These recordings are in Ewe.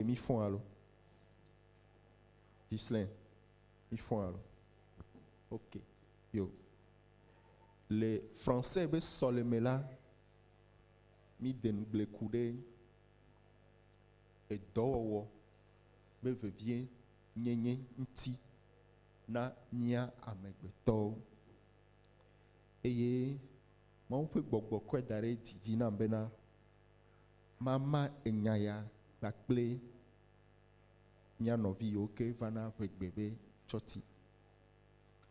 Ɖe mífɔa alo? Ghislaine, mífɔa alo? Ok, yo. Le français be sɔleme la, míde ŋugble ku ɖe edɔwɔwɔ be vevie nyenye ŋuti na mía amegbetɔwo. Eye Mawu ƒe gbɔgbɔ kɔe da ɖe edzi dzi nam bena, Mama enya ya kpakple mía nɔvi yiwo ke va na ƒe gbe be tsɔti.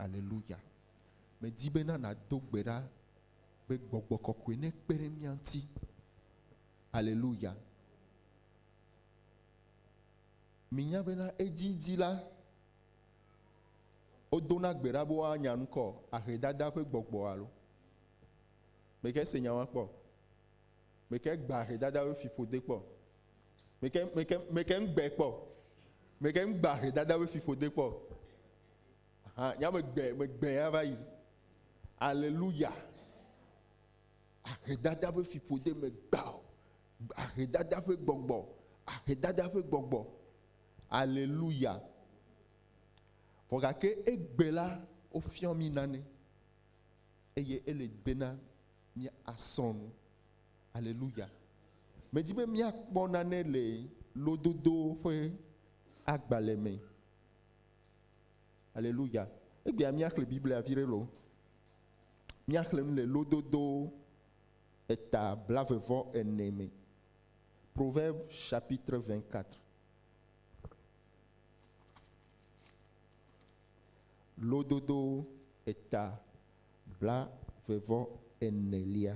Aleluya. Medi bena nàdo gbe ɖa be gbɔgbɔ kɔkɔe nekpe ɖe mía ŋuti. Aleluya. Minya bena edzidzi la, wodona gbe ɖa be woanya ŋkɔ ahe dada ƒe gbɔgbɔ alo. Mègae se nya ma kpɔ o. Meke gba he dada we fi ƒode kpɔ. Meke meke meke ngbe kpɔ. Meke ngba he dada we fi ƒode kpɔ. Ha nya me gbe me gbe ya va yi. Aleluya. Ahe dada we fi ƒode me gba. Ahe dada ƒe gbɔgbɔ. Ahe dada ƒe gbɔgbɔ. Aleluya. Vɔ gake egbe la wofiɔ mi nane eye ele gbe na mía asɔ nu. Aleluya. Medi be míakpɔ nane le lododo ƒe agbalẽ me. Aleluya. Egbea míaxlẽ Biblia vi ɖe lo. Míaxlẽ nu le lododo eta blavevɔ ene me. Proverbe chapitre 24. Lododo eta blave-vɔ-enelia.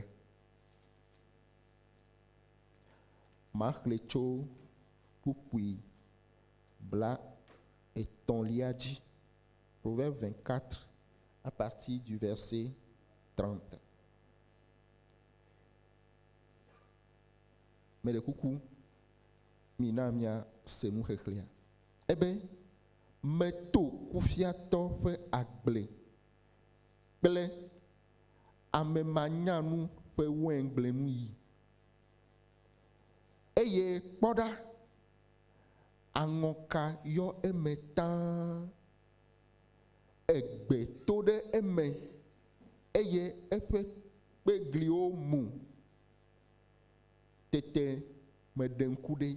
Maxlẽ tso kpukpui blaetɔ̃lia dzi. Proverbe 24 à partir du verset 30. Meɖe kuku, mina míase nuxexlẽa. Ebe, Meto kufiatɔ ƒe agble kple amemanyanu ƒe wɛngblenu yi. Eye kpɔ ɖa, aŋɔka yɔ eme tãa, egbe to ɖe eme, eye eƒe kpegliwo mu. Tete meɖe ŋku ɖi,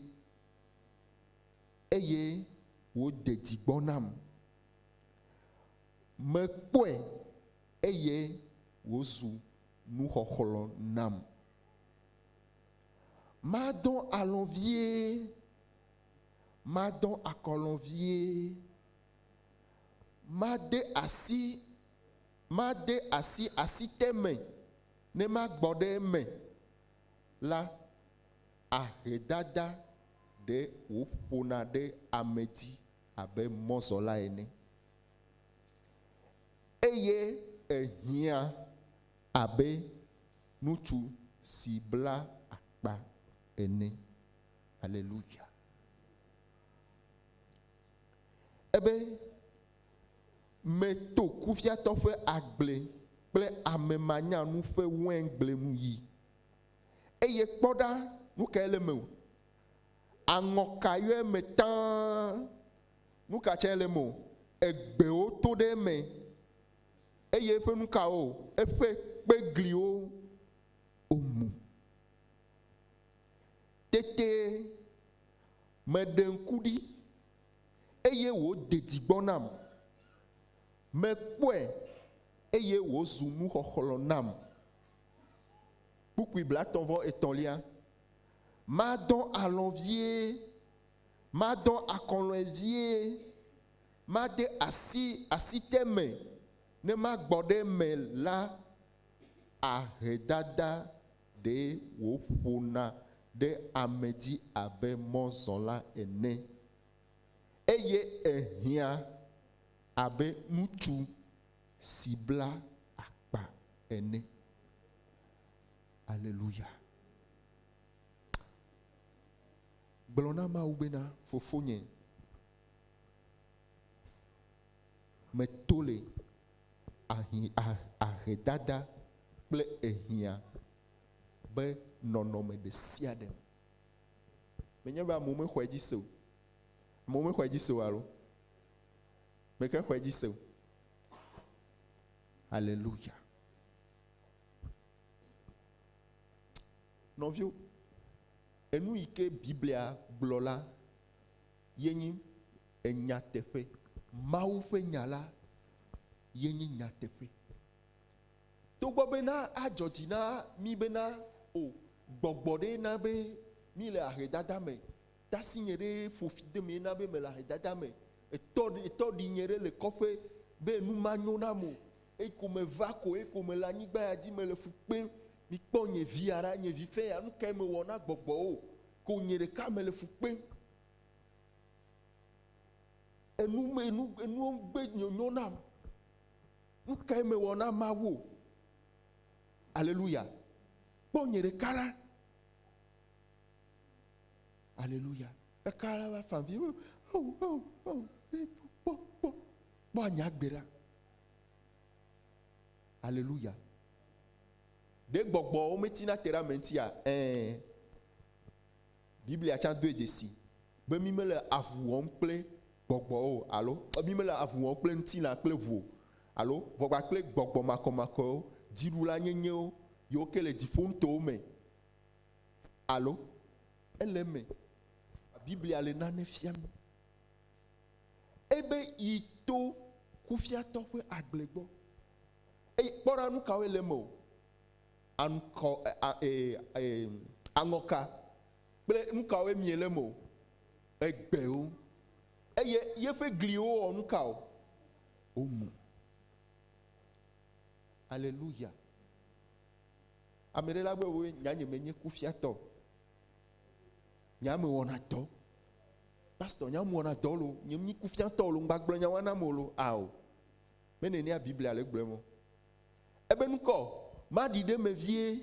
eye wòde dzi gbɔ nam. Mekpɔe, eye wòzu nuxɔxlɔ̃ nam. Madɔ alɔ̃ vie, madɔ akɔlɔ̃ vie, made asi, made asi asite me ne magbɔ ɖe eme la, ahedada ɖe wòƒona ɖe ame dzi abe mɔzɔla ene. Eye ehiã abe ŋutsu si bla akpa ene. Aleluya! Ebe, Meto kuviatɔ ƒe agble kple amemanyanu ƒe wɛngble nu yi. Eye kpɔ ɖa, nu kae le eme o? Aŋɔka yɔe me tãa. Nuka tsɛ le mɔ egbewo to ɖe eme, eye eƒe nukawo eƒe kpegliwo omu? Tete meɖe ŋku ɖi, eye wòde dzi gbɔ nam, mekpɔe, eye wòzu nuxɔxlɔ̃ nam. Kpukpui blatɔ̃-vɔ-etɔ̃lia. Madɔ alɔ̃ vie Madɔ akɔlɔ̃e vie, made asi asite me ne magbɔ ɖe eme la, ahedada ɖee wòƒona ɖe ame dzi abe mɔzɔla ene, eye ehiã abe ŋutsu si bla akpa ene. Aleluya! Gblɔ na Mawu bena, Fofonye, meto le ahi, a, ahedada kple ehiã be nɔnɔme ɖe sia ɖe me. Menye be amewo mexɔe dzi se o. Amewo mexɔe dzi se o alo? Meke xɔe dzi se o. Aleluya. Nɔviwo, Enu yi ke Biblia gblɔ la ye nye nyateƒe. Mawu ƒe Nya la ye nye nyateƒe. Togbɔ bena adzɔ dzi na mí bena, O, gbɔgbɔ ɖee na be míle ahedada me, tasinye ɖee ƒo fi de mee na be mele ahedada me, etɔ ɖee, etɔ ɖee nye ɖe le kɔƒe be nu manyo nam o. Eyi ko meva ko, eyi ko mele anyigba ya dzi, mele fu kpem. Mikpɔ nye via ɖa, nye vi ƒe ya, nu kae mewɔ na gbɔgbɔwo? Ko nye ɖeka mele fu kpem. Enu me enu enuwo gbe nyonyo nam. Nu kae mewɔ na Mawu? Aleluya. Kpɔ nye ɖeka ɖa. Aleluya. Ɖeka ɖe va fa vi. Kpɔ, kpɔ, kpɔ, kpɔ anya gbe ɖa. Aleluya. Ɖe gbɔgbɔwo metina te ɖe ame ŋutia? Ɛ̃. Biblia tsã doe dzesi be mi mele avu wɔm kple gbɔgbɔwo alo mi mele avu wɔm kple ŋutilã kple ʋu alo ʋɔgba kple gbɔgbɔ makɔmakɔewo, dziɖula nyenyewo, yiwo ke le dziƒo nutowo me alo ele eme. Biblia le nane fiam mi. Ebe yi to kufiatɔ ƒe agble gbɔ, eye kpɔ ɖa nu kawoe le eme o, aŋkɔ, aŋɔka kple nu kawoe mie le eme o, egbewo, eye yeƒe gliwo wɔ nu ka o? Womu. Aleluya! Ame ɖe la gblɔ be, Nya nye menye kufiatɔ o. Nye ame wɔna dɔ. Pastor, nye ame wɔna dɔ lo. Nye mi kufia tɔ lo. Ngba gblɔ nyawa na mo lo. Ao. Me ne nia Biblia le gblɔ mo. Ebe nukɔ, ma ɖi ɖe me vie.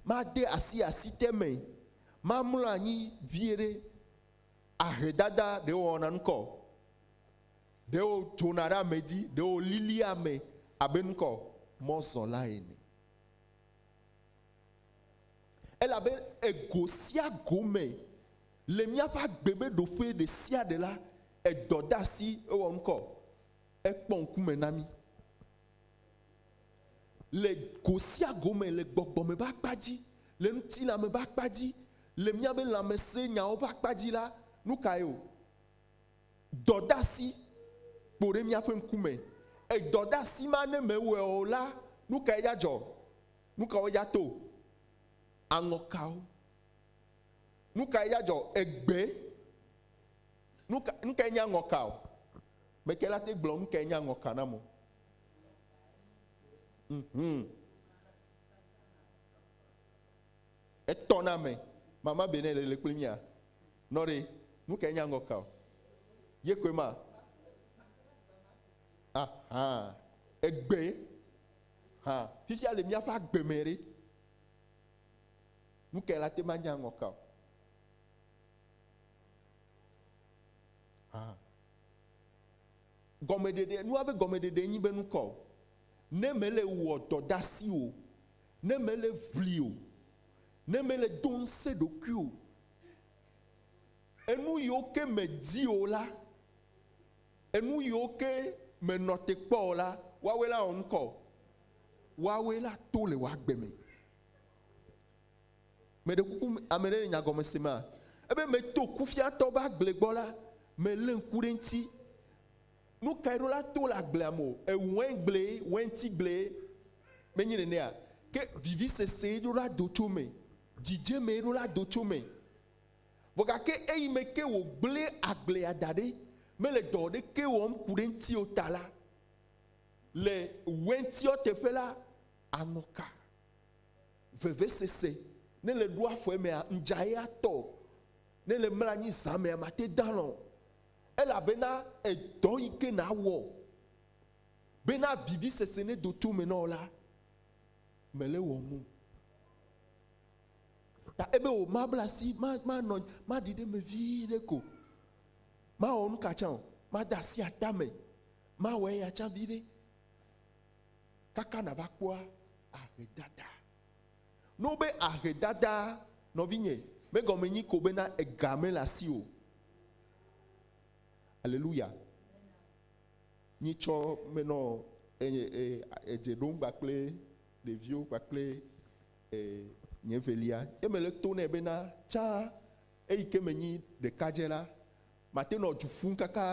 Ma de asi asi te me. Ma mlɔ anyi vie ɖe. Ahe dada ɖe wɔna nukɔ. Ɖe wo dzona ɖe ame dzi, ɖe wo lilia ame abe nukɔ mɔzɔla ene. Elabe ego sia go me le míaƒe agbe be ɖoƒe ɖe sia ɖe la, edɔ de asi, ewɔ ŋkɔ, ekpɔ ŋkume na mí. Le go sia go me, le gbɔgbɔ me ƒe akpa dzi, le ŋutilã me ƒe akpa dzi, le míaƒe lãmesẽnyawo ƒe akpa dzi la, nu kae o? dɔdasi kpo ɖe míaƒe ŋkume. Edɔdasi ma ne mewɔe o la, nu kae dza dzɔ? Nu kawo dza to? Aŋɔkawo. Nu kae dza dzɔ? Egbe. Nu ka nu kae nye aŋɔka o? Meke la te gblɔ nu kae nye aŋɔka nam o. Mhm. Etɔ na me. Mama be ne le le kple mia. Nɔ ɖe. Nu kae nya ŋgɔ kao. Ye koe ma. Aha. Egbe. Ha. Fifia le miaƒe agbe me ɖe. Nu kae la te ma nya ŋgɔ kao. Aha. Gɔmeɖeɖe, nua be gɔmeɖeɖe nyi be nukɔ. Ne mele wɔ dɔdasi o. ne mele ʋli o, ne mele do ŋusẽ ɖokui o, enu yiwo ke medi o la, enu yiwo ke menɔ te kpɔ o la, woawoe la wɔ ŋkɔ o. Woawoe la to le wò agbe me. Meɖe kuku ame ɖe le nyagɔme se ma? Ebe meto kufiatɔ be agble gbɔ la, melé ŋku ɖe eŋuti. Nu kae ɖo la to le agblea me o. Eŋ, wɛngblee, wɛntigblee menye nenea? Ke vivisesee ɖo la do tso eme, dzidzemee ɖo la do tso eme. Vɔ gake eyime ke wògblẽ agblea da ɖi, mele dɔ aɖeke wɔm ku ɖe eŋuti o ta la, le wɛntiɔ teƒe la, aŋɔka, vevesese, ne le ɖoa afɔ emea, ŋdzaɣi atɔ o, ne le mla anyi zã mea, mate dalɔ̃ o. Elabena edɔ yi ke nàwɔ bena vivisese nedo to me na wò la, mèle wɔm o. Ta ebe wò mabla asi, ma, manɔ anyi, maɖi ɖe eme vi ɖe ko. Mawɔ nu ka tsã o. Made asi atame. Mawɔ eya tsã vi ɖe. Kaka nàva kpɔa ahedada. Ne wobe ahedada, nɔvinye, megɔme nyi ko bena ega mele asiwò o. Aleluya. Nyitsɔ me nɔ edze ɖom kpakple ɖeviwo kpakple nye velia. Eme le to nɛ bena tsã eyi ke menyi ɖekadze la, mate nɔ du ƒum kaka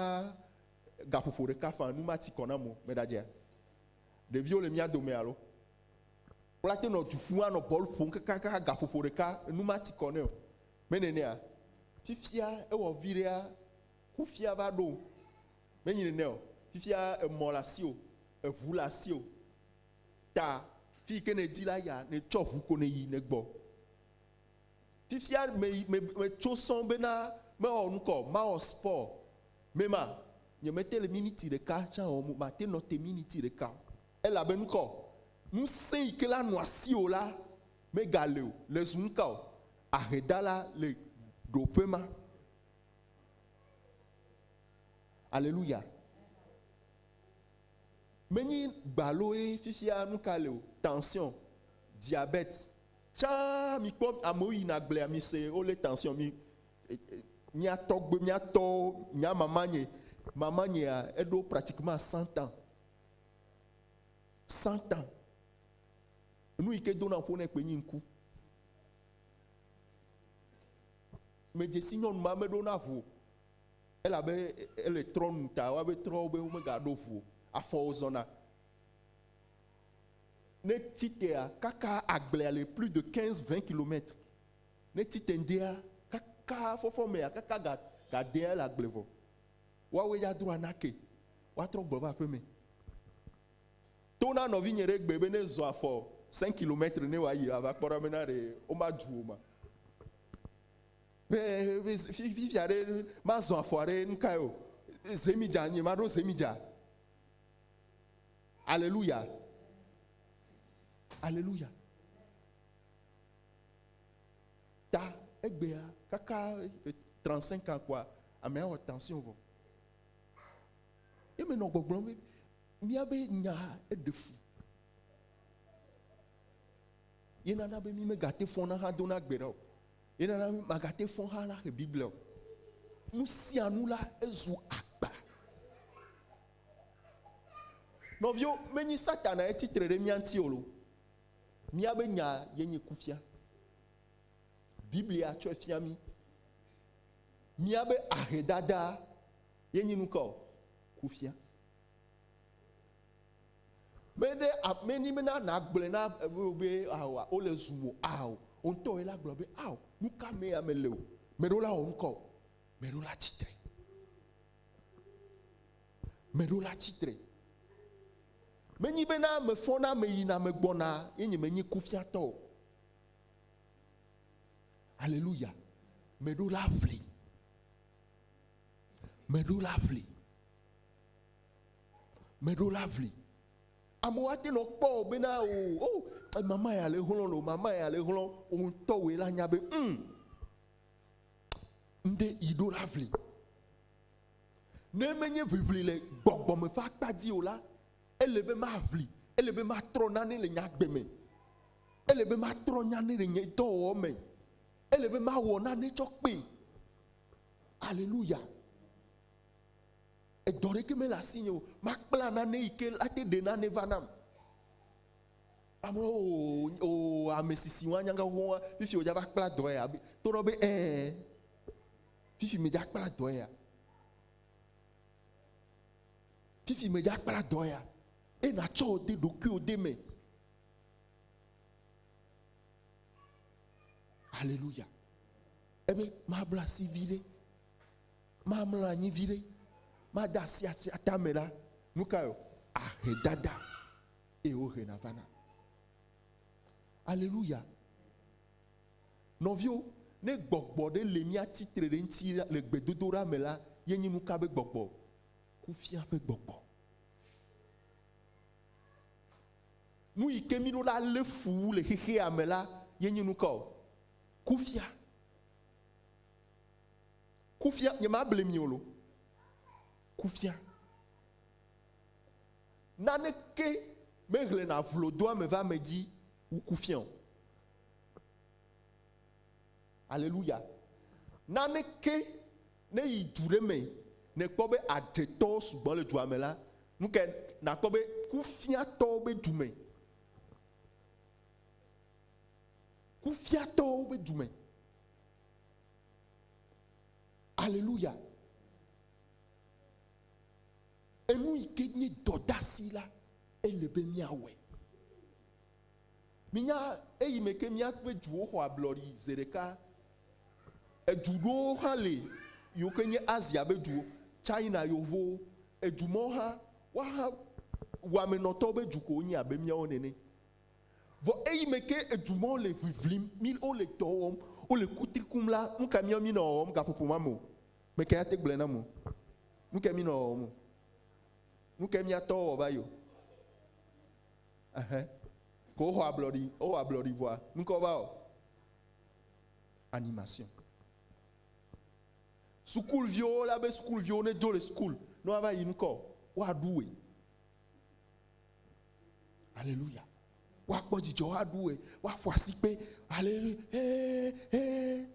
gaƒoƒo ɖeka faa nu mati kɔ nam o. Meɖadzea? Ɖeviwo le mía dome alo? Wla te nɔ du ƒum anɔ bɔl ƒom kakaka gaƒoƒo ɖeka nu mati kɔ nɛ o. Menɛnɛa? Fifia ewɔ viɖea kufia va ɖo. Menyi nɛnɛ o. Fifia emɔ le asio, eʋu le asio. Ta fiyike nèdi la yia nètsɔ ʋu ko nèyi nègbɔ. Fifia meyi me metso sɔŋ bena mewɔ nukɔ o, mawɔ sport. Mema, nyemete le miniti ɖeka tsã wɔm o, mate nɔ te miniti ɖeka o. Elabe nu kaɔ? Ŋusẽ yi ke la nɔ asiwò la megale o. Le zu nu kaɔ? Ahedala le ɖoƒe ma. Aleluya. Menye gbaloe fifia nu ka le o. Tension, diabète. Tsã mikpɔ amewo yina agblea mise wole tension mi e, e, mía tɔgbe, mía tɔwo, nya mamanye, mamanyea eɖo pratiquement 100 ans. Satan, enu yi ke dona ƒo nɛ kpe nyi ŋku. Medze si nyɔnu ma meɖo na ʋu o. Elabe ele trɔ nu ta woabe trɔwo be womegaɖo ʋu o. Afɔwo zɔna. Ne titea kaka agblea le plus de 15 20 kilomètres. Ne tite ŋdea kaka fɔfɔmea kaka ga gadea le agble vɔ. Woawoe ya dro anake woatrɔ gbɔ va aƒeme. To na nɔvinye ɖe egbee be ne ezɔ afɔ cinq kilomètres ne wòayi ava kpɔ ɖa bena ɖe woma dzu wò ma. Be fifia ɖe mazɔ afɔa ɖe nu kae o. Zemidza nye maɖo zemidza. Aleluya. Aleluya. ta egbea kaka trente cinq ans kpɔa amea wɔ tension vɔ ye menɔ gbɔgblɔm be míabe nya eɖe fu ye nana be mi megate fɔna hã dona gbe ɖa o ye nana be magate fɔ hã la xe biblia o nu sia nu la ezu akpa nɔviwo menyi satana etitre ɖe mía ŋuti o lo. Míabe nya ye nye kufia. Biblia tsɔe fia mí. Míabe ahedada ye nye nu ka o? Kufia. Mede ameni bena nàgblɔe na ame be ao ah, wole zu mo ao. Ah, wò ŋutɔ ye la gblɔ be ao, ah, nu ka mee ame le o. Meɖewo la wɔ nu ka o? Meɖewo la tsitre. Meɖewo la tsitre. Menyi bena mefɔna meyina megbɔna ye nye menyi kufiatɔ o. Aleluya. Meɖo la ʋli. Meɖo la ʋli. Meɖo la ʋli. Amewo ate nɔ kpɔ o bena o oh, o oh, eh, mama ya le hlɔ̃ lo mama ya le hlɔ̃ o ŋutɔ wòe la nya be um, ŋɖe yi ɖo la ʋli. Ne menye ʋiʋli le gbɔgbɔ me ƒe akpa dzi o la, ele be maʋli, ele be matrɔ nane le nye agbe me, ele be matrɔ nane le nye dɔwɔwɔ me, ele be mawɔ nane tsɔ kpee. Aleluya. Edɔ ɖeke mele asinye o. Makpla nane yi ke ate ɖe nane va nam. Ame o o ame sisi wa nyanga wo fifi o dza va kpla dɔ ya. Tonɔ be ɛɛ. Fifi medza kpla dɔ ya. Fifi medza kpla dɔ ya. Eye natsɔ wò de ɖokuiwò de me. Alléluia. Ebe mabla asi viɖe. Mamla anyi viɖe. Mada asi asi atame la. Nu ka yo? Ahe dada. Eye wohe navana. Alléluia. Nɔviwo, ne gbɔgbɔ ɖe le mía tsi tre ɖe eŋuti le gbedodoɖa me la, ye nyi nuka be gbɔgbɔ? Kufia ƒe gbɔgbɔ. Nu yi ke mí ɖo la le fu wu le xexea me la, ye nyi nuka o? Kufia. Kufia, nye ma ble mi o lo. Kufia. Naneke me hlena vlodoame va ame dzi Woku fia o. Aleluya. Naneke ne yi du ɖe me nekpɔ be adzetɔ sugbɔ le dua me la, nu ke nakpɔ be kufiatɔwo be du me. Kufiatɔwo be du me. Aleluya. Enu yi ke nye dɔdasi la, ele be míawɔe. Minya eyi me ke míaƒe duwo xɔ ablɔɖi zeɖeka. Edu ɖewo hã li yiwo ke nye Asia be duwo, China yevowo, edu mawo hã, woaha wɔamenɔtɔwo be du ko wonye abe míawo nene. Vɔ eyi me ke edu mawo le ʋiʋlim, wole dɔ wɔm, wole kutri kum la, nu ka míawo míenɔ wɔwɔm gaƒoƒo ma me o? Meke ate gblɔe na mo, nuke mi nɔ wɔwɔ mo, nuke mia tɔwo wɔ va yo. Ehe, ke woxɔ ablɔɖi, wowɔ ablɔɖi vɔa, nuke wova wɔ? Animation. Sukul viwo la be sukul viwo ne dzo le sukul, ne woava yi nukɔ, woa ɖu we. Aleluya. Woa kpɔ dzidzɔ, woa ɖu we, woa ƒo asikpe. Aleluya. Hee, hee.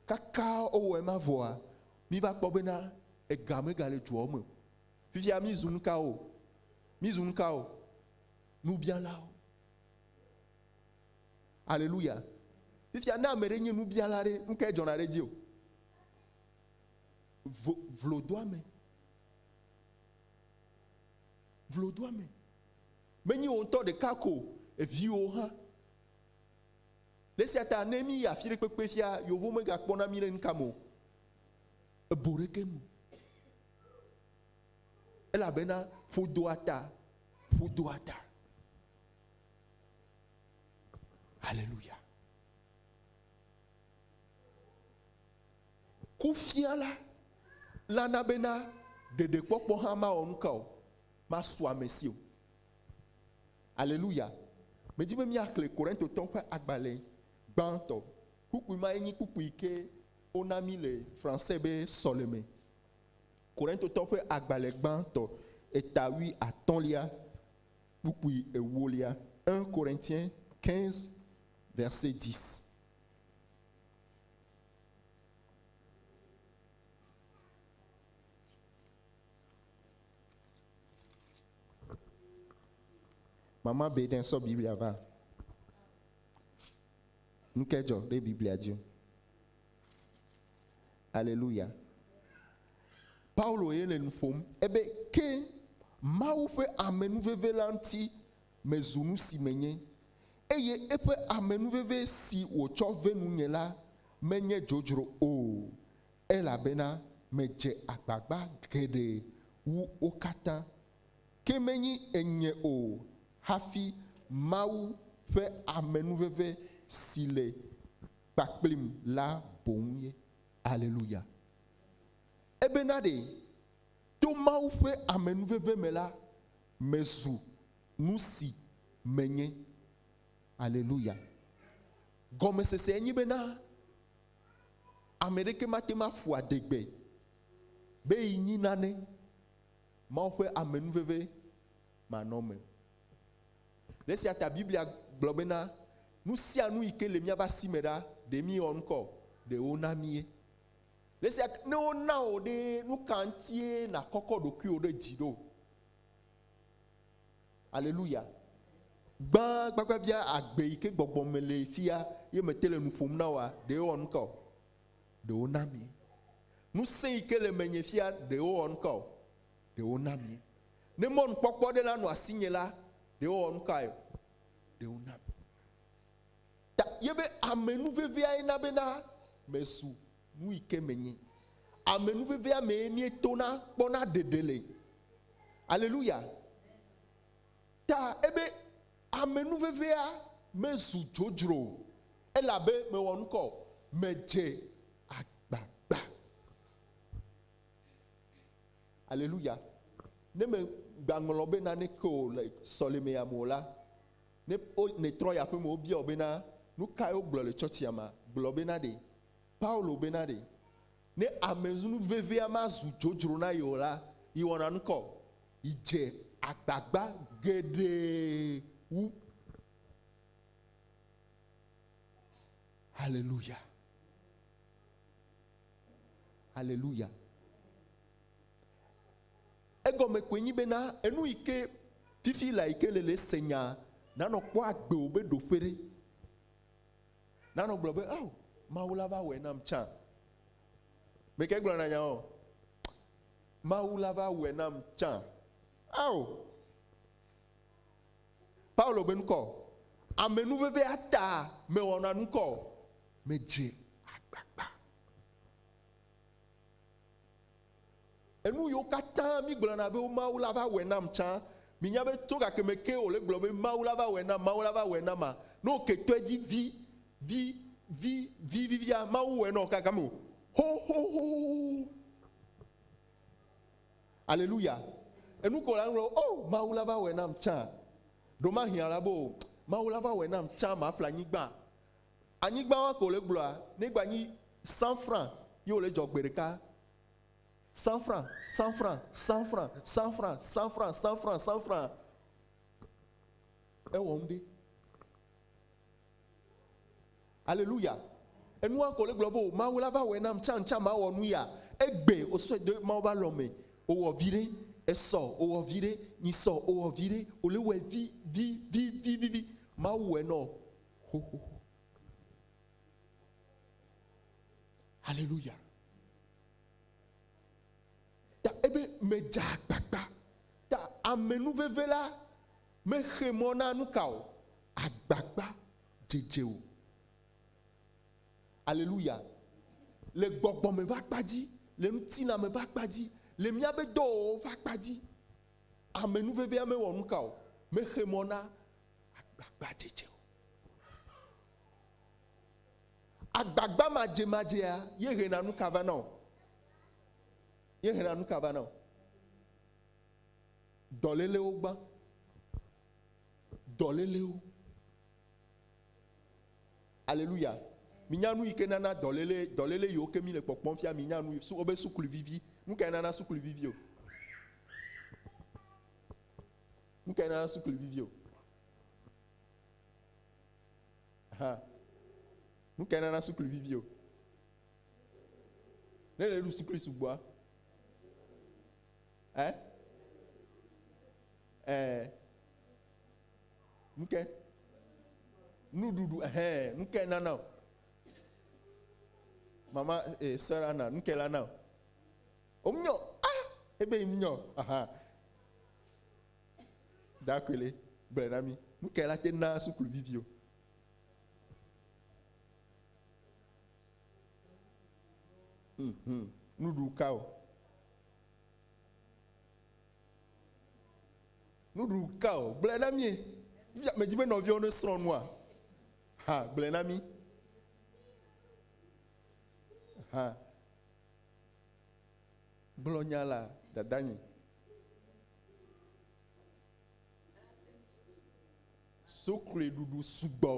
Kaka wowɔ ema vɔa, míva kpɔ bena ega megale dua wo me o. Fifia mízu nu kawo? Mízu nu kawo? Nubialawo. Aleluya. Fifia ne ame ɖe nye nubiala ɖe, nu kae dzɔna ɖe edzi o? Vlodoame. Vlodoame. Menye wò ŋutɔ ɖeka ko, eviwo hã. Le esia ta ne míyi afi ɖe kpekpe fia, yeovo megakpɔna mí ɖe nuka me o, ebo ɖeke nu o. Elabena ƒo doa ta, ƒo doa ta. Haleluya. Kufiala la na bena ɖeɖekpɔkpɔ hã mawɔ nuka o, masu amesi o. Aleluya! Medi be míaxlẽ Korintotɔwo ƒe agbalẽ gbãtɔ. Kpukpui mae nye kpukpui yi ke wona mí le Fransɛ be Sɔleme. Korintotɔwo ƒe agbalẽ gbãtɔ, eta wui atɔ̃lia, kpukpui ewolia, 1 Corinthiens 15, verset 10. Mama Baden sɔ Biblia va. Nu ke dzɔ ɖe Biblia dzi. Aleluya. Paulo ye le nu ƒom ebe ke Mawu ƒe amenuveve la ŋuti mezu nu si menye, eye eƒe amenuveve si wòtsɔ ve nunye la menye dzodzro o, Elabena medze agbagba geɖe wu wo katã, ke menyi enye o hafi Mawu ƒe amenuveve si le kpakplim la boŋ ye. Aleluya! Ebena ɖe, to Mawu ƒe amenuveve me la, mezu nu si menye. Aleluya! Gɔmesesee nye bena. Ame ɖeke mate ŋu aƒo adegbe be yi nyi nane Mawu ƒe amenuveve manɔme. Le esia ta Biblia gblɔ bena, Nu sia nu yi ke le míaƒe asi me ɖa, ɖe míewɔ nu kɔ o, ɖe wona míe. Le esia ta ne wona wò ɖee, nu ka ŋutie nàkɔkɔ ɖokuiwò ɖe dzi ɖo? Aleluya! Gbã gbagbagbia agbe yi ke gbɔgbɔ me le fia ye mete le nu ƒom na woa, ɖe ewɔ nu ka o? Ɖe wona mi ŋusẽ yi ke le menye fia ɖe ewɔ nu ka o? Ɖe wona mi ne mɔnukpɔkpɔ aɖe nanɔ asinye la, ɖe ewɔ nu kae o? Ɖe wona mi ta ye be ame nu veviae na bena mezu Nuyi ke menye. Amenuvevea mee míetona kpɔna ɖeɖe le. Aleluya. Ta ebe amenuvevea mezu dzodzro o, elabe mewɔ nu ka o? Medze agbagba. Aleluya. Ne mègbaŋlɔ be naneke o le sɔlemea me o la, ne nètrɔ yi aƒeme wobia wò bena, Nu kae wogblɔ le tsɔtsia mea? Gblɔ bena ɖe. Paulo bena ɖe, ne ame nu vevia mazu dzodzro na ye o la, yewɔna nu ka o? Yedze agbagba geɖe wu. Haleluya! Haleluya! Egɔme koe nyi bena enu yi ke fifi la yi ke le le se nyaa nanɔ kpɔ agbe wò be ɖoƒe ɖe. Nanɔ gblɔ be, Ao, Mawu la va wɔe nam tsã. Mi ke gblɔna nya o. Mawu la va wɔe nam tsã. Ao! Paulo be nukɔ. Amenuvevea ta mewɔna nukɔ o. Medze agbagba. Enu yiwo katã mígblɔna be Mawu la va wɔe nam tsã, minya be tso gakeme kee wòle gblɔ be Mawu la va wɔe nam, Mawu la va wɔe nam a, ne wòke tɔe dzi vi, vi, vi, vi vivia, Mawu wɔe na wò gagame o. Xoxoxoxoxo. Aleluya. Enu ko la gblɔ, oh, Mawu la va wɔe nam tsã. Ɖo mahiã la be, oh, Mawu la va wɔe nam tsã maƒle anyigba. Anyigba wa ko le gblɔa ne gba nyi sanfra ye wole dzɔ gbe ɖeka. Sanfra, sanfra, sanfra, sanfra, sanfra, sanfra, sanfra. Ewɔ nu ɖe. Aleluya. Enua ko le gblɔ bo Mawu la va wɔ nam can can ma wɔ nu ya. Egbe o sɔ do Mawu ba lɔ me. O wɔ vi ɖe. Esɔ o wɔ vi ɖe. Nyi sɔ o wɔ vi ɖe. O le wɔ vi vi vi vi vi vi. Mawu wɔ nɔ. xoxoxo. Haleluya. Ta ebe medze agbagba. Ta amenuveve la mexe mɔ na nu ka o? Agbagba dzedze o. Haleluya. Le gbɔgbɔme ƒe akpa dzi, le ŋutilãme ƒe akpa dzi, le míaƒe dɔwɔwɔ ƒe akpa dzi, amenuvevea mewɔ nu ka o? Mexe mɔ na agbagbadzedze o. Agbagba madzemadzea ye hena nu ka va na o? Ye hena nu ka va na o? Dɔlélewo gbã. Dɔlélewo. Aleluya. Minya nu yi ke nana dɔléle dɔléle yiwo ke mi le kpɔkpɔm fia minya nu su wobe sukluvivi. Nu kae nana sukluvivi o? Nu kae nana sukluvi via o? Ha. Nu kae nana sukluvi via o? Ne le ɖu suklui sugbɔa? Ɛ? Ɛ. Nu kae? Nuɖuɖu, ɛhɛ, nu kae nana o? Mama e, eh, sœur Anna, nu kae la na o? Omnyɔ, ah, ebe mnyɔ, aha. Dakwele, gblɔe na mí. Nu kae la te naa suku viviwo? Hmm, hmm. Nuɖu ka o? Nuɖu ka o? Gblɔe na mí. Medi be nɔviawo ne srɔ̃ nua. Ha, gblɔe na mí. Ha. Gblɔ nya la, dadanyi. Sokloe ɖuɖu sugbɔ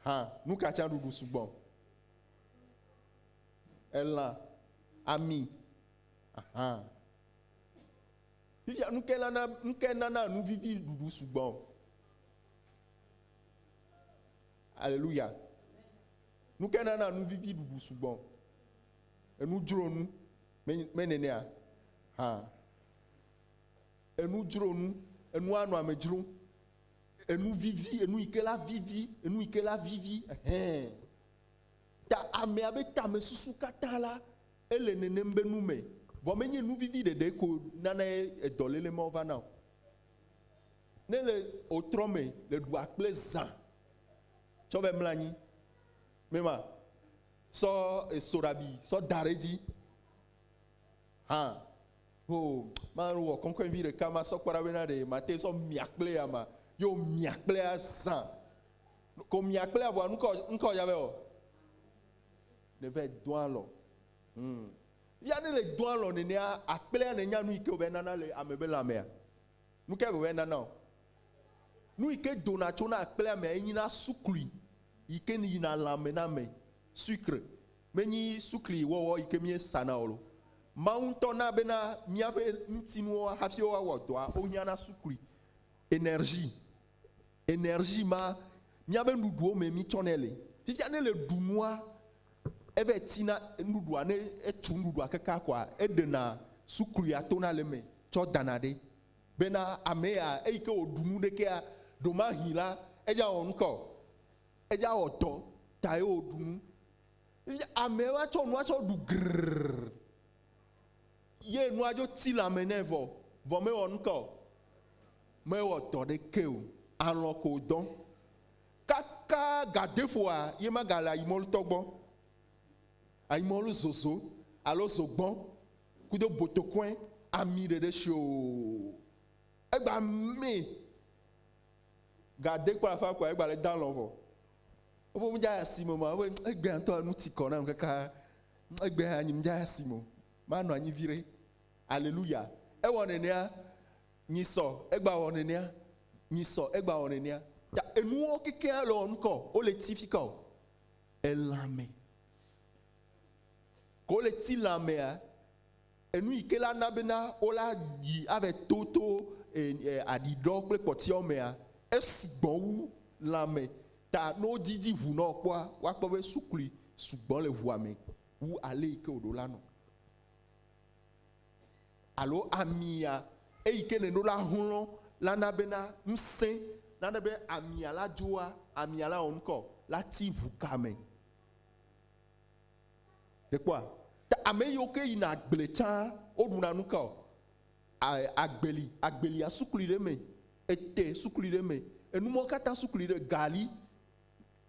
hã. Nu ka tsã ɖuɖu sugbɔ? Elã, ami, aha. Fifia nu ke nana nu ke nana nu vivi ɖuɖu sugbɔ. Aleluya. Nu ke nana nu vivi ɖuɖu sugbɔ. Enu dzro nu, menɛnɛa hã? Enu dzro nu, enua nɔ ame dzrom. Enu vivi, enu yi ke la vivi, enu yi ke la vivi, hɛn. Ta amea be tamesusu katã la, ele nenem be nu me. Vɔ menye nu vivi ɖeɖe ko nana edɔ lele mawo va na o. Ne le otrɔ me le ɖua kple zã tsɔ va mla anyi, mema. Sɔ esoɖabi sɔ da ɖe edzi hã. Ho, mawɔ kɔnkɔɛvi ɖeka masɔ kpɔ ɖa bena ɖe mate sɔ mia kple ya ma. Yo mia kple azã. Ko mia kple ya vɔa nukɔ nukɔ ya vɛ ɔ. Ne vɛ dɔn alɔ. Hum. Ya ne le dɔn alɔ nenea akplea ne nya nu yi ke wòvɛ nana le ame be lãmea. Nu kae wòvae nana wò? Nu yi ke dona tso na akplẽa mea, enyina sukli yi ke yina lãme na ame, sucre. Menyi sukli wɔwɔ yi ke míesana o. Mawu ŋutɔ na bena míaƒe ŋutinuwo hafi woawɔ dɔa, wohiãna sukli, énergie. Energie ma míabe nuɖuɖuwo me mítsɔnɛ le. Fifia ne le ɖu nua, eva yi tina nuɖuɖua, ne etu nuɖuɖua kekaa koa, eɖena sukluia tona le eme tsɔ dana ɖe. Bena ame ya, eyi ke wòɖu nu ɖe kea, ɖewomahi la, edze awɔ nu ka o. Edze awɔ dɔ ta ye wòɖu nu. Fifia ame va tsɔ nua tsɔ ɖu grrrr ye nua dzo ti lãme nɛ vɔ, vɔ mewɔ nu ka o. Mewɔ dɔ ɖekɛ o, alɔ̃ ko dɔ. Kaka gadeƒoa ye magale ayimɔlutɔ gbɔ, ayimɔlu zozo alo zogbɔ kudo botokɔe ami ɖeɖe shi o. Egba mɛ gade kpɔ afã kɔa egba le dalɔ̃ vɔ. Woƒe mu dza asi me ma woƒe egbea ŋutɔ enu ti kɔ nam kaka egbea anyi mu dza asi me o. Manɔ anyi viɖe. Aleluya. Ewɔ nenea Nyi sɔ egba wɔ nenea. Nyi sɔ egba wɔ nenea. Ta enuwo kekea le wɔ nukɔ. Wo le ti fika o. Elãme. Ke wo le ti lãmea, enu yi ke la na bena wo la yi ave to to aɖiɖɔ kple kpɔtiawo mea, esugbɔ wu lãme. Ta ne wo didi ŋu na wò kpɔa, woa kpɔ be sukli sugbɔ le ŋua me wu ale yi ke wò ɖo la nɔ. alo amia, eyi ke nèɖo la hlɔ̃ la na bena ŋusẽ nane be amia la dzoa amia la wɔnuka o, la ti ŋu ka me. Nèkpɔa? Ta ame yiwo ke yina agble tsã woɖuna nuka o? Agbeli, agbelia sukli ɖe eme, ete sukli ɖe eme, enumɔwo katã sukli ɖe, gali,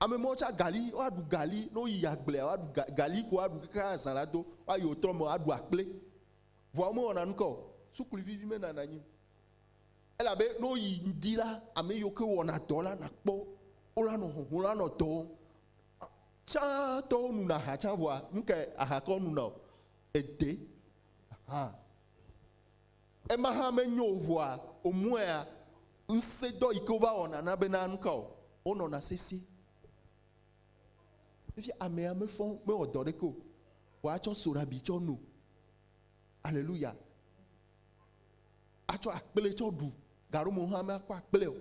Ame mɔwo tsa gali, woaɖu gali, ne woyi agblea, woaɖu ga, gali ko woaɖu kaka azã la do, woayi wotrɔ me, woaɖu akple. Vɔa womewɔna nu ka o. Suklu vivi menana anyi o. Elabe ne woyi ŋdi la, ame yiwo ke wɔna dɔ la, nàkpɔ wola nɔ hɔhɔm, la nɔ dɔ wɔm. Tsã tɔwo nuna aha tsã vɔa, nu kae aha ke wonuna o? Ede. Aha. Ema hã menyo o ŋua womɔea ŋusẽdɔ yi ke wova wɔna na bena nu ka o, wonɔna sesĩe. Efia amea mefɔ, mewɔ dɔ ɖeke o, vɔ atsɔ soɖabi tsɔ no. Aleluya. Atsɔ akple tsɔ ɖu, gaɖo me hã makpɔ akple o.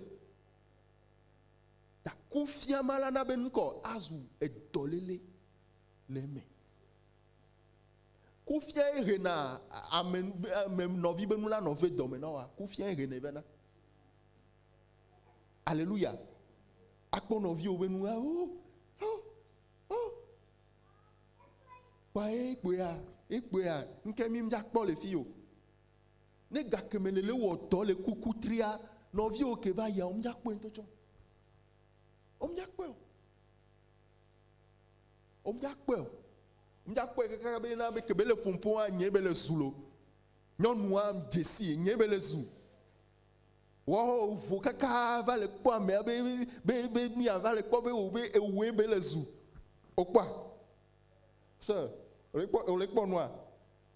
Ta kufia ma la na be nukɔ azu edɔlele le eme. Kufiae hena ame ame nɔvi be nu la nɔ ve dɔme na wa. Kufiae henɛ vena. Aleluya. Akpɔ nɔviwo be nu la wo. Kpa ekpɔea, ekpɔea, ŋke mi mjakpɔ le fi o. Ne gakeme le le wɔtɔ le kuku tria, nɔviwo ke va ya wo mjakpɔe ŋutɔ tsɔ. Wo mjakpɔe o. Womja kpɔɛ o. Womja kpɔɛ kaka be na be kebe le ƒompo a nye be le zu lo. Nyɔnu a djesi nye be le zu. Wɔɔ vo kaka va le kpɔ amea be be be mia va le kpɔ be o be ewoe be le zu. O kpɔa? Se, o le kpɔ o le kpɔ nua?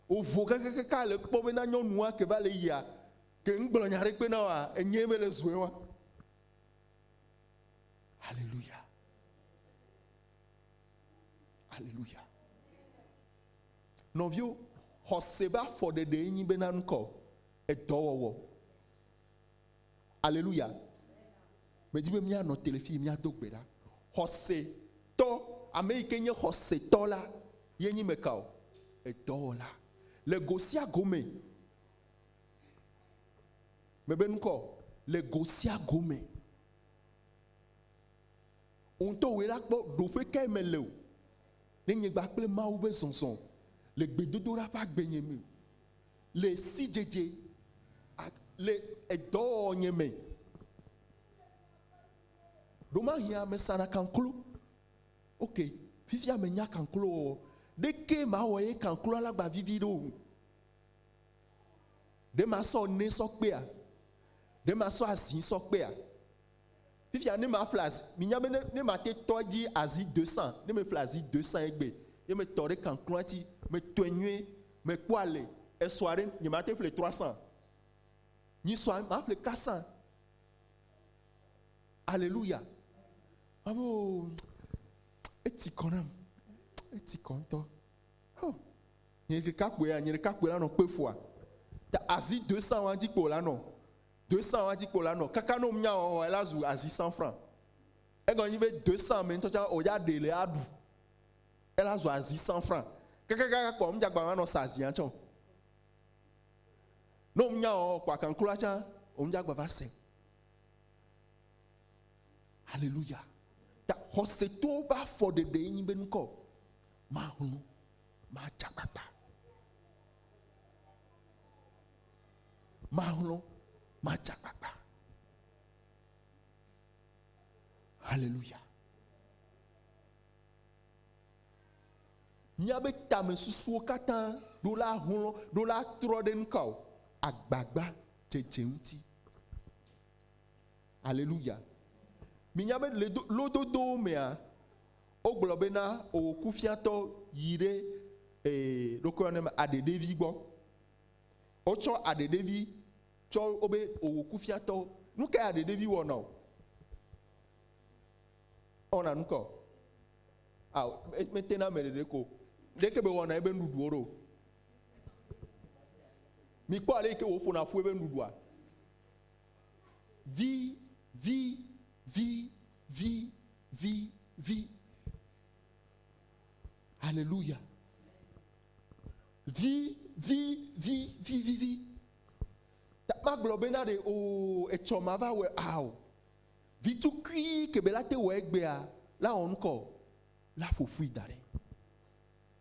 O vo kaka kaka le kpɔ be na nyɔnu a ke va le yia ke ŋgblɔ nya ɖe kpe na wa enye be le zue wa. Hallelujah. Aleluya. Nɔviwo, xɔse ƒe afɔɖeɖee nyi be na nukɔ edɔwɔwɔ. Aleluya. Medi be míanɔ te le fi míado gbe ɖa. Xɔsetɔ, ame yi ke nye xɔsetɔ la, ye nyi meka o, edɔwɔla. Le go sia go me, mebe nukɔ, le go sia go me. Wò ŋutɔ wòe la kpɔ ɖoƒe kae mele o ne nyegba kple Mawu be zɔzɔ le gbedodoɖa ƒe agbenye me, le sidzedze alo le edɔwɔwɔnye me. Ɖomahia mesana kanklo. Ok, fifia menya kanklowɔwɔ. Ɖekee mawɔ ye kankloa lagba vivi ɖo o. Ɖe masɔ ne sɔ kpea? Ɖe masɔ azi sɔ kpea? Fifia ne ma ƒle azi, mi nya be ne, ne ma te tɔ edzi azi de san, ne me ƒle azi de san egbe, ye me tɔ ɖe kankloa ti, me tɔe nyuie, me kpɔ ale, esɔa ɖe, nye ma te ƒle trɔ asan. Nyi sɔa, ma ƒle ka san. Aleluya. Ma be, oh, eti kɔ nam, eti kɔ ŋutɔ. Oh, nye ɖeka kpoe ya, nye ɖeka kpoe la nɔ kpe fua. Ta azi de san wa dzi kpoe la nɔ. Doesã wa dzi kpo la nɔ kaka nom nya wɔwɔ ela zu azi sanfra. Egɔme nyi be doesã me ŋutɔ tsã oya ɖe le aɖu. Ela zu azi sanfra. Kakakaka kpɔ ŋdza gba manɔ sa azia tsã o. Nom nya wɔwɔ kpɔ akankloa tsã ŋdza gba va se. Hallelujah. Ta xɔse to ba fɔ ɖeɖe nyi be nukɔ ma hunu ma dzagbata. Malɔ̃, matsi akpakpa. Haleluya. Míabe tamesusuwo katã ɖo la hlɔ̃, ɖo la trɔ ɖe nu ka o? Agbagba dzedze ŋuti. Haleluya. Minya be le lododowo mea, wogblɔ bena owò kufiatɔ yi ɖe ee ɖokoyɔ ne me aɖeɖevi gbɔ. Wotsɔ aɖeɖevi tsɔ wo be wòwò kufiatɔwo. Nu kae aɖeɖevi wɔ na wò? Ewɔna nu kae o? Ao, me- mete na ame ɖeɖe ko. Ɖeke be wɔna ebe nuɖuɖuwo ɖo. Mikpɔ ale yi ke wòƒona ƒu ebe nuɖuɖua. Vi, vi, vi, vi, vi, vi. Haleluya. Vi, vi, vi, vi, vi, vi. Ta magblɔ be na ɖe o etsɔ ma va wɛ a o. Vi tukui ke be la te wɔ egbea la wɔ ŋkɔ o, la ƒoƒui da ɖɛ.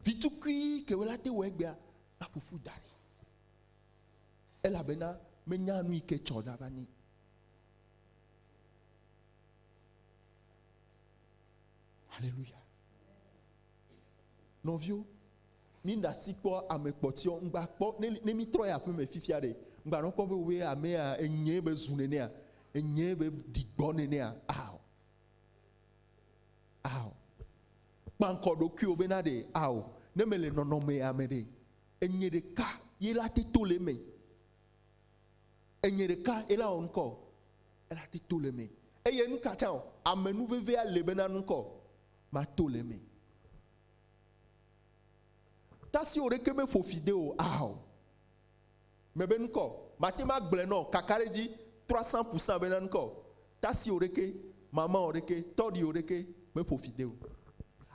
Vi tukui ke be la te wɔ egbea la ƒoƒui da ɖɛ. Elabena menya nu yi ke tsɔ na va nɛ. Haleluya. Nɔviwo, mi ɖa si kpɔ ame kpɔtiɔ, ŋgba kpɔ ne, ne mi trɔ yi aƒe me fifia ɖe, ŋgba nɔ kpɔ be woe amea enyee be zu nenea, enyee be ɖi gbɔ nenea, ao, ao. Kpankɔ ɖokuiwo bena ɖe, ao, ne mele nɔnɔme ya me ɖe, enye ɖeka ye la te to le eme. Enye ɖeka ye la wɔ ŋkɔ, ela te to le eme. Eye nuka tsã o, ame nuvevea le bena ŋkɔ. mato le eme. Tasi oɖeke me ƒo fi de o ao. Me be nukɔ, mate ma gblẽ nɔ kaka ɖe dzi trɔ san ƒu san be na nukɔ. Tasi oɖeke, mama oɖeke, tɔɖi oɖeke me ƒo fi de o.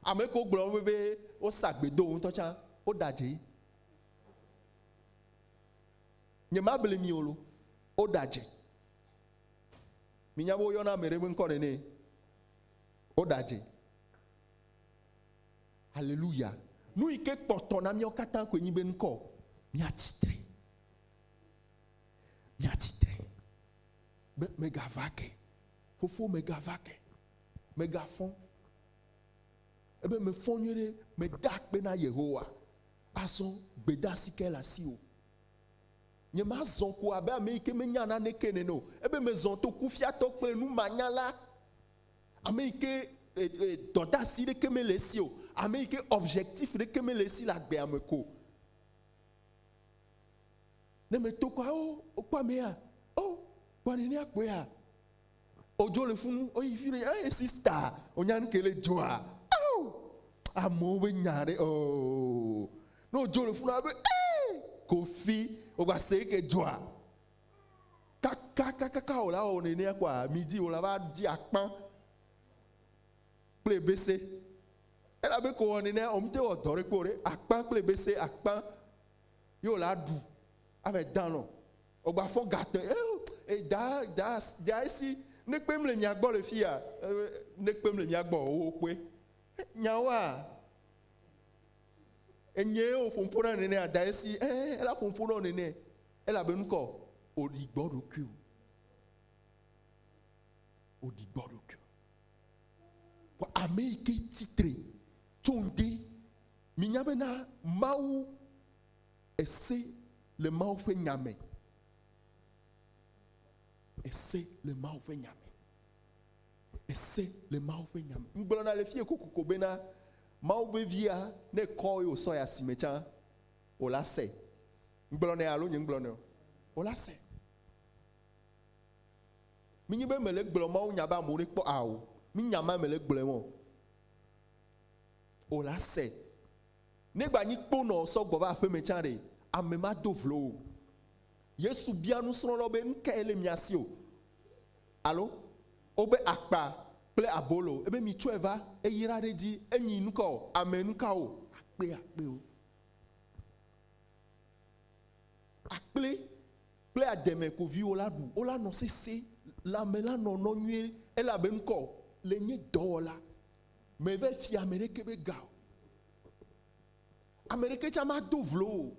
Ame ko gblɔ be be o sa gbe do o ŋutɔ tsa, o ɖa dze. Nye ma bli mi o lo, o ɖa dze. Mi nya be o yɔna ame ɖe be nukɔ nene? Woɖadze. Haleluya. Nu yi ke kpɔtɔ na míawo katã koe nyi be ŋkɔ míatsi tre. Míatsi tre. Be megava ke. Fofo megava ke. Megafɔ. Ebe mefɔ nyuie ɖe mede akpe na Yehowa. Azɔ gbedasi ke le asiwò. Nyemazɔ ko abe ame yi ke menya naneke nene o. Ebe mezɔ to kufiatɔ kple numanyala. Ame yi ke dɔdeasi ɖeke mele esi o. Ame yi ke objectif ɖeke mele esi le agbea me ko. Ne meto kɔa, o, wokpɔ amea, o, kpɔ nenea kpɔea. Odzo le funu, oyi fi ɖe, eye sista, onya nu ke le dzoa. Ao, amewo be nya ɖe, o, ne odzo le funu abe, ee, kofi, ogba se ke dzoa. Kakakaka wòle awɔ nenea kpɔa, midi wòle ava di akpã kple ebese. Elabe ko wɔ nenea, wòmete wɔ dɔ ɖe kpɔ ɖe akpã kple ebese akpã ye wòle aɖu ava dan nɔ. Wògba fɔ gate e da da da esi ne kpem le mia gbɔ le fia ne kpem le mia gbɔ wo kpɔe nyawoa. Enyee wò ƒo ŋuƒo na nene ada esi ẽ ela ƒo ŋuƒo nɔ nene elabe nukɔ òɖi gbɔ ɖokuiwò. Òɖi gbɔ ɖokuiwò. Vɔ ame yi ke tsi tre tso ŋdi. Minya bena Mawu ese le Mawu ƒe nya me. Ese le Mawu ƒe nya me. Ese le Mawu ƒe nya me. Ŋgblɔna le fie kokoko bena, Mawu ƒe via, ne ekɔ eye wòsɔ yi asime tsã o la, se. Ŋgblɔnɛ alo nyeŋgblɔnɛ o, wola se. Menye be mele gblɔ Mawu nya be amewo ne kpɔ a o. Mi nya ma mele gblɔe mɔ. O la se. Ne gba nyi kponɔ sɔ gbɔ va aƒeme tsã ɖe, ame ma do vlo o. Yesu bia nusrɔ̃lawo be, Nu kae le mia si? o alo Wobe akpa kple abolo, ebe mitsɔe va eyra ɖe edzi. Enyi nuka o? Ame nukawo? Akpe akpewo. Akple kple ademe ko viwò la ɖu. Wola nɔ sese, lãme la nɔ nɔ nyuie, ele abe ŋkɔ o. Le nye dɔwɔla, meva fia ame ɖeke be ga o. Ame ɖeke tsa mado vlo wò o.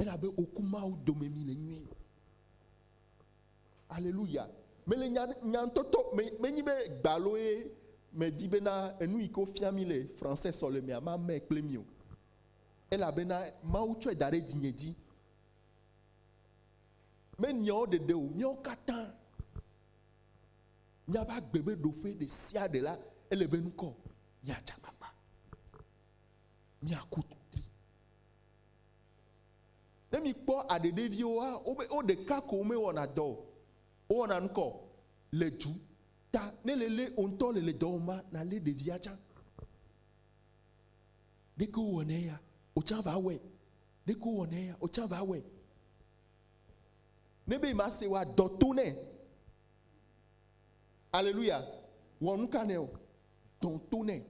Elabe oku Mawu dome mi le nyuie. Aleluya. Mele nya nyantɔtɔ me menyi be gbalo ye medi bena enu yi ke wofia mi le français sɔlemea mame kple mi o. Elabena Mawu tsɔe da ɖe dzinye dzi. Menyawo ɖeɖe o, míawo katã míaƒe agbe be ɖoƒe ɖe sia ɖe la ele be ŋkɔ míatsa gbagba. miaku tri. Ne mikpɔ aɖeɖeviwoa, wobe wo ɖeka ko womewɔna dɔ o. Wowɔna nukɔ le du ta ne le lé wò ŋutɔ le le dɔ wɔm ma, nàlé ɖevia tsã. Ɖeke wowɔna eya, wò tsã va wɔe. Ɖeke wowɔna eya, wò tsã va wɔe. Ne be ma se wa dɔ to nɛ. Aleluya. Wɔ nu ka nɛ o? Dɔ to nɛ.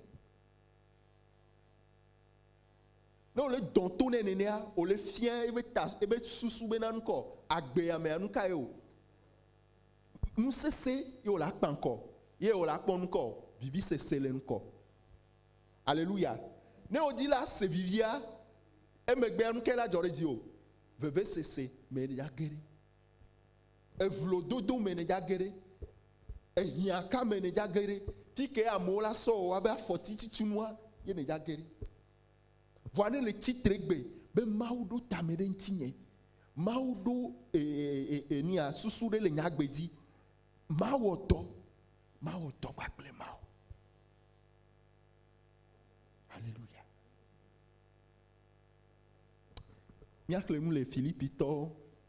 Ne wòle dɔ to nɛ nenea, wòle fia ebe ta, ebe susu be na nukɔ agbe ya mea nuka ye o. Nusese ye wòle akpa ŋkɔ, ye wòle akpɔ nukɔ, vivi sese le nukɔ. Aleluya. Ne wòdi la se vivia, emegbea nuka la dzɔ ɖe dzi o. Veve sese me ya ge ɖe. Evlo dodo me ne dza geɖe. Ehiã ka me ne dza geɖe. Fike amewo la sɔ wɔ abe afɔti titsunua ye ne dza geɖe. Vɔa ne le tsitre gbe be Mawu ɖo tame ɖe ŋtinye, Mawu ɖo enia susu ɖe le nye agbe dzi, mawɔ dɔ, mawɔ dɔ kpakple Mawu. Aleluya. Míaxlẽ nu le Filipitɔ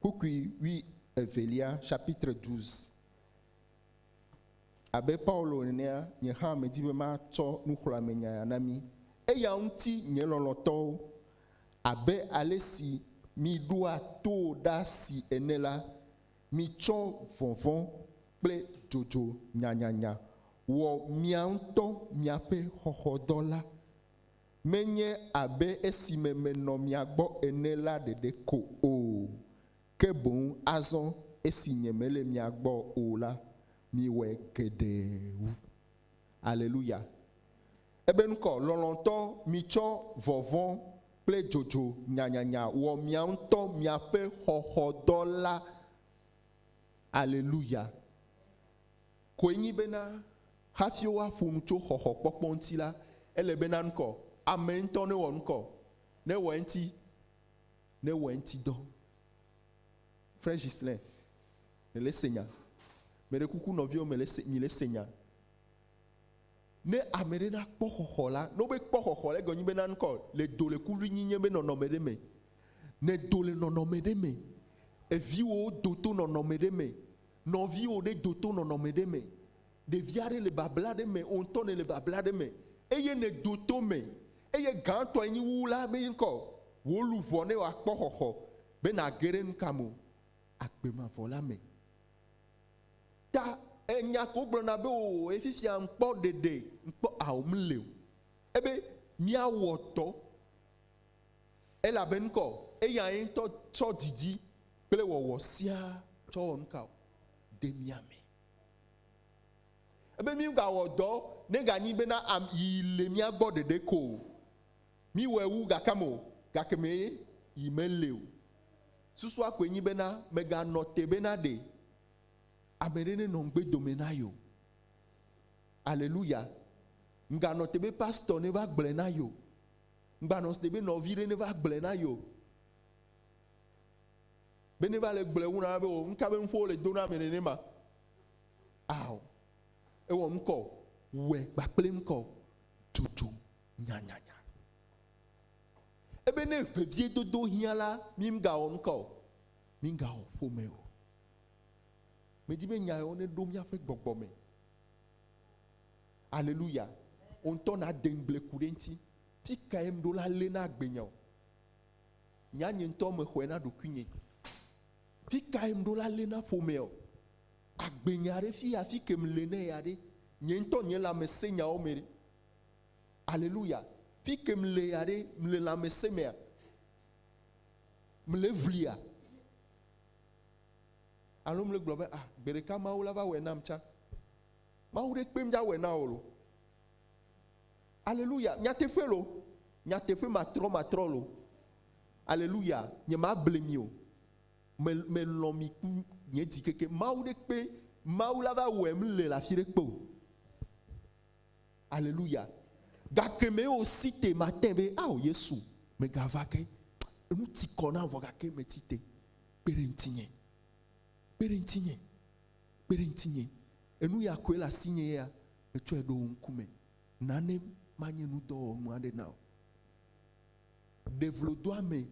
Kpukpui wui evelia, chapitre 12. Abe Paulo enea, nye hã medi be matsɔ nuxlɔ̃amenya na mi. Eya ŋuti, nye lɔlɔ̃tɔwo, abe ale si miɖoa to ɖa si ene la, mitsɔ vɔvɔ̃ kple dzodzo nyanyanya wɔ mia ŋutɔ miaƒe xɔxɔdɔ la. Menye abe esime menɔ mia gbɔ ene la ɖeɖe ko o, ke boŋ azɔ esi nyemele mia gbɔ o la, miwɔe geɖe wu. Aleluya! Ebenkɔ, lɔlɔ̃tɔ, mitsɔ vɔvɔ̃ kple dzodzo nyanyanya wɔ mia ŋutɔ miaƒe xɔxɔdɔ la. Aleluya! koe nyi bena hafi woaƒo nu tso xɔxɔkpɔkpɔ ŋuti la, ele be naŋkɔ amee ŋutɔ ne wɔ ŋkɔ, ne wɔ eŋuti, ne wɔ eŋuti dɔ. Frère Ghislain, nèle se nya. Meɖe kuku nɔviwo mele se, mile se nya. Ne ame ɖe na kpɔ xɔxɔ la, ne wobe kpɔ xɔxɔ la, egɔme nyi be naŋkɔ le do le kuvinyinye be nɔnɔme ɖe me. Nèdo le nɔnɔme ɖe me. Eviwòwo do to nɔnɔme ɖe me. Nɔviwò ɖe do to nɔnɔme ɖe me, ɖevi aɖe le babla aɖe me, wò ŋutɔ nèle babla aɖe me, eye nèdo to eme, eye gãtɔe nyi wu la be ŋkɔ wò luʋɔ ne wòakpɔ xɔxɔ be nàge ɖe nu ka me o, agbe mavɔ la me. Ta enya ko gblɔna be o e fifia ŋkpɔ ɖeɖe ŋkpɔ ao mle o, ebe míawɔ dɔ. Elabe ŋkɔ eyae ŋutɔ tsɔ didi kple wɔwɔ siaa tsɔ wɔ nuka o? De mía me. Ebe mígawɔ dɔ neganyi bena yi le mía gbɔ ɖeɖe ko o. Míwɔe wu gakam o, gake me yi mele o. Susua koe nyi bena mèganɔ te bena ɖe ame ɖe nenɔ ŋugbe dome na yeo. Aleluya! Mganɔ te be pastor neva gblɔe na yeo. Ŋgbanɔ site be nɔvi ɖe neva gblɔe na ye o. Be neva le gblɔe ŋu na be o nuka be nuƒo wole do na ame nenema. Ao, ewɔ ŋkɔ o, wɛ gbakple ŋkɔ o, dzodzo nyanyanya. Ebe ne veviedodo hiã la, mi ŋgawɔ ŋkɔ o, mi ŋgawɔ ƒome o. Medi be nya yewo neɖo míaƒe gbɔgbɔ me. Aleluya. Wò ŋutɔ nàde ŋugble ku ɖe eŋuti. Fi kae ŋɖo la lé na agbenya o? Nya nye ŋutɔ mexɔe na ɖokuinye. Fi kae ŋɖo la lé na ƒomea o? Agbenya ɖe fi ya fi ke mele nɛ ya ɖe, nye ŋutɔ nye lãmesẽ nyawo me ɖe? Aleluya. Fi ke mele ya ɖe, mele lãmesẽ mea? Mele ŋlia? Alo mele gblɔ be, ah, gbe ɖeka Mawu la va wɔe nam tsã. Mawu ɖe kpe mía wɛ na o lo. Aleluya. Nyateƒe lo. Nyateƒe matrɔ matrɔ lo. Aleluya. Nye ma ble mi o. Me, me lɔ mi ku nye dzi keke. Mawu ɖe kpe, Mawu la va wɛ m le lafi ɖe kpe o. Aleluya. Gake me o si te mate be, ao Yesu, me ga va ke. Enu ti kɔ na vɔ gake me ti te. Kpe ɖe ŋutinye. Kpe ɖe ŋutinye. Kpe ɖe ŋutinye. Enu ya koe le asinye ya metsɔe ɖo wò ŋkume. Na ne manye nudɔwɔnu aɖe na wò. Ɖe vlodoame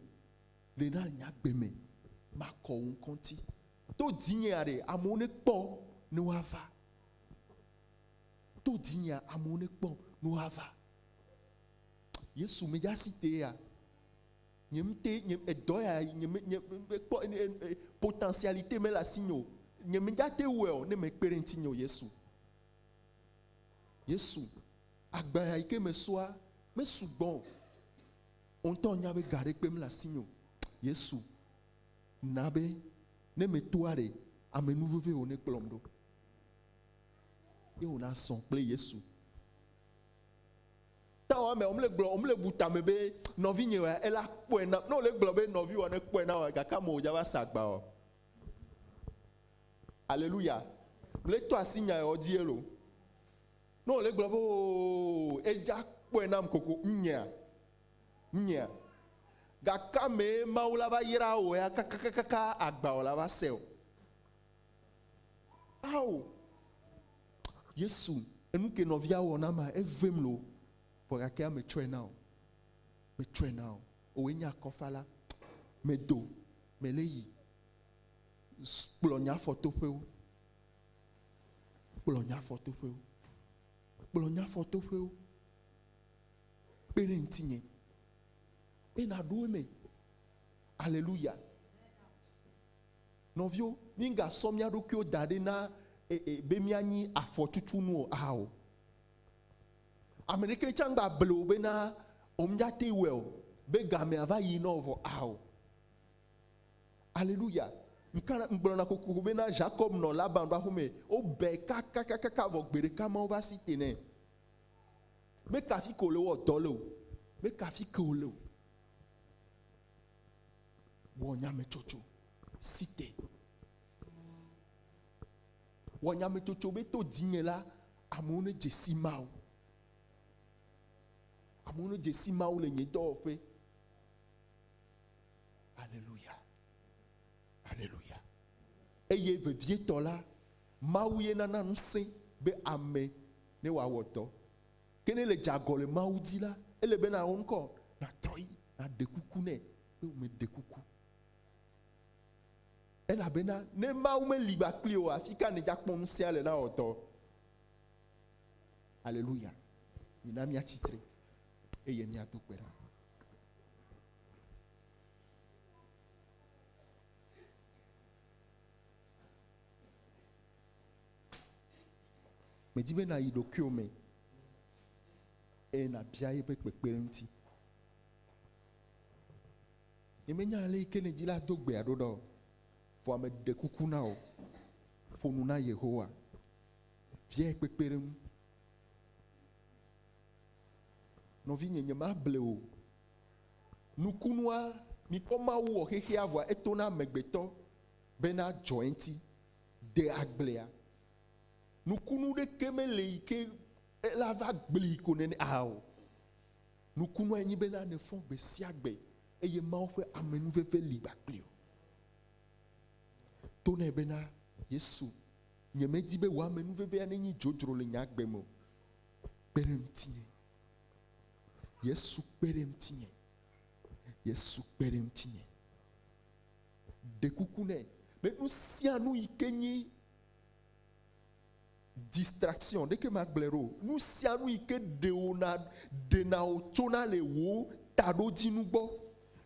le na nye agbe me. Makɔ wò ŋkɔ ŋuti. To dzinyea ɖe amewo nekpɔ ne woava. To dzinyea amewo nekpɔ ne woava. Yesu, medze asi tee ya? Nye ŋutɔe, nye edɔ ya nye me nye mekpɔ potentialité mele asinye o. Nye medzate wɔe o ne mekpe ɖe ŋutinye o Yesu. Yesu, agba ya yi ke mesɔa mesugbɔ o. Wò ŋutɔ nya be ga ɖekpe mele asinye o. Yesu, na be ne metoa ɖe ame nu veve wò nekplɔm ɖo. Ye wòna zɔ kple Yesu. Tawo amea, womle gblɔ, womle bu tame be nɔvinye wa, ela kpɔe nam. Ne wole gblɔ be nɔviwòa ne kpɔe na wa, gake ame wòdza va sa agba o. Aleluya. Mle to asi nya yawo dzi elo. Ne wole gblɔ be oo, edza kpɔe nam koko, nyea, nyea. Gake amee Mawu la va yra wò ya kakakakaka agba wòla va se o. Ao! Yesu, enu ke nɔvia wɔ na ma, evem loo, vɔ gake ya metsɔe na o. Metsɔe na o. Wòe nye akɔfala. Medo, mele yi. Kplɔ nye afɔtoƒewo. Kplɔ nye afɔtoƒewo. Kplɔ nye afɔtoƒewo. Kpe ɖe ŋutinye. Be naɖo eme. Aleluya. Nɔviwo, mígasɔ mía ɖokuiwo da ɖi na be míanyi afɔtutunu o ao. Ame ɖeke tsã mgba ble wò bena womate ŋu wɔe o, be gamea va yi nɔ vɔ ao. Aleluya! Ŋkana ŋgblɔna kokoko bena Ʒakɔb nɔ Laban ƒe aƒe me, wobɛ kakakakaka vɔ gbeɖeka Mawu va si te nɛ. Meka afi ke wòle wɔ dɔ le o. Meka afi ke wòle o. Wɔ nyametsotso si te. Wɔ nyametsotso be to dzinye la, amewo nedze si Mawu. Amewo nedze si Mawu le nye dɔwɔƒe. Aleluya. Aleluya. Eye vevietɔ la, Mawu ye nana ŋusẽ be ame ne wòawɔ dɔ. Ke ne le dze agɔ le Mawu dzi la, ele be nàwɔ ŋkɔ, nàtrɔ yi, nàɖe kuku nɛ, be wòmeɖe kuku. Elabena ne Mawu meli ba kpli o, afi ka nèdze akpɔ ŋusẽa le na wɔtɔ? Aleluya. Mina míatsi tre eye míado kpe ɖa. Medi be nàyi ɖokuiwò me eye nàbia eƒe kpekpeɖeŋuti. Nyemenya ale yi ke nèdi la do gbea ɖo ɖa o, vɔa meɖe kuku na wò, ƒo nu na Yehowa, biae kpekpeɖeŋu. Nɔvinye, nyemable wò o. Nukunua, mikpɔ Mawu wɔ xexea vɔa etona amegbetɔ bena dzɔ eŋuti. de agblea. Nukunu ɖeke mele yi ke ela va gbli ko nene aa o. Nukunua nye be na nefɔ gbe sia gbe eye Mawu ƒe amenuveve li kpakple o. To nɛ bena, Yesu, nyemedi be wò amenuvevea nenye dzodzro le nye agbe me o. Kpe ɖe ŋutinye. Yesu kpe ɖe ŋutinye. Yesu kpe ɖe ŋutinye. ɖe kuku nɛ be nu sia nu yi ke nyi distraction ɖeke magblẽ ɖo nu sia nu yi ke ɖewo na ɖena wò tsona le wò taɖodzinu gbɔ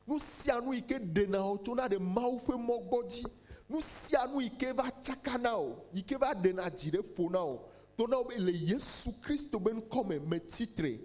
nu sia nu yi ke ɖena wò tsona ɖe mawu ƒe mɔ gbɔ dzi nu sia nu yi ke va tsaka na wò yi ke va ɖena dzi ɖe ƒo na wò to na wò be le yesu kristo be ŋkɔ me metsi tre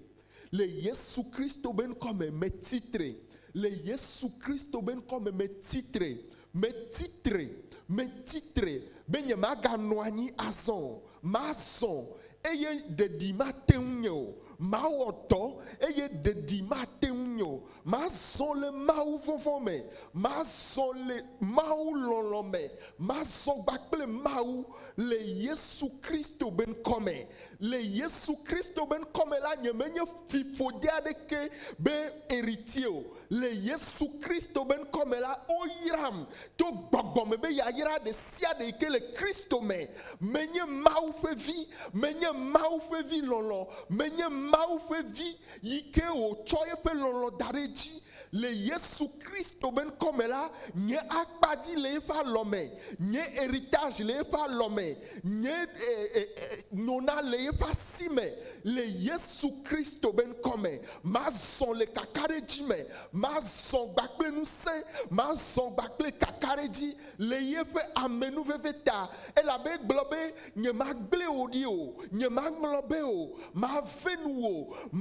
Le Yesu Kristo be ŋkɔ me, metsi tre. Le Yesu Kristo be ŋkɔ me, metsi tre. Metsi tre. Metsi tre be nyemaganɔ anyi azɔ o. Mazɔ, eye ɖeɖi mate ŋu nye o. Mawɔ dɔ, eye ɖeɖi mate ŋu nye o. Mazɔ le mawuvɔvɔ̃ me, mazɔ le mawulɔlɔ̃ me, mazɔ gba kple Mawu le Yesu Kristo be ŋkɔ me. Le Yesu Kristo be ŋkɔ me la, nyemenye fiƒode aɖeke be Eritsie o. Le Yesu Kristo be ŋkɔ me la, woyram to gbɔgbɔ me be yayra ɖe sia ɖe yi ke le Kristo me. Menye Mawu ƒe vi, menye Mawu ƒe vi lɔlɔ̃, menye Mawu ƒe vi yi ke wòtsɔ eƒe lɔlɔ̃ da ɖe edzi le Yesu Kristo ƒe ŋkɔ me la, nye akpa dzi le eƒe alɔ me, nye heritage le eƒe alɔ me, nye e, e, e, nona le eƒe asi me le Yesu Kristo ƒe ŋkɔ me. Mazɔ le kakaɖedzi me, mazɔ gba kple ŋusẽ, mazɔ gba kple kakaɖedzi le yeƒe amenuveve ta, elabe egblɔ be Nyemagblẽ wò ɖi o, nyemaŋlɔ be o, mave nu wò,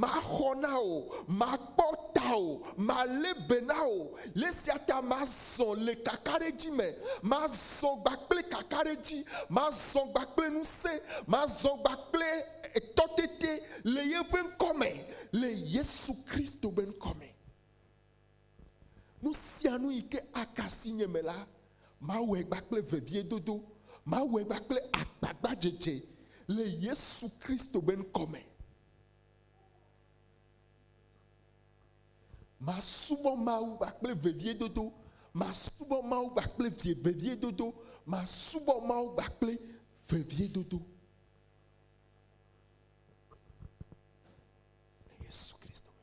maxɔ na wò, makpɔ tawò, malé be na wò. Le esia ta mazɔ le kakaɖedzi me, mazɔ gba kple kakaɖedzi, mazɔ gba kple ŋusẽ, mazɔ gba kple tɔtete le yeƒe ŋkɔ me, le Yesu Kristo be ŋkɔ me. Nu sia nu yi ke aka asi nye me la, mawɔe gba kple veviedodo, mawɔe gba kple agbagbadzedze le Yesu Kristo be ŋkɔ me. Masubɔ Mawu gba kple veviedodo, masubɔ Mawu gba kple vie veviedodo, masubɔ Mawu gba kple veviedodo. Le Yesu Kristo me.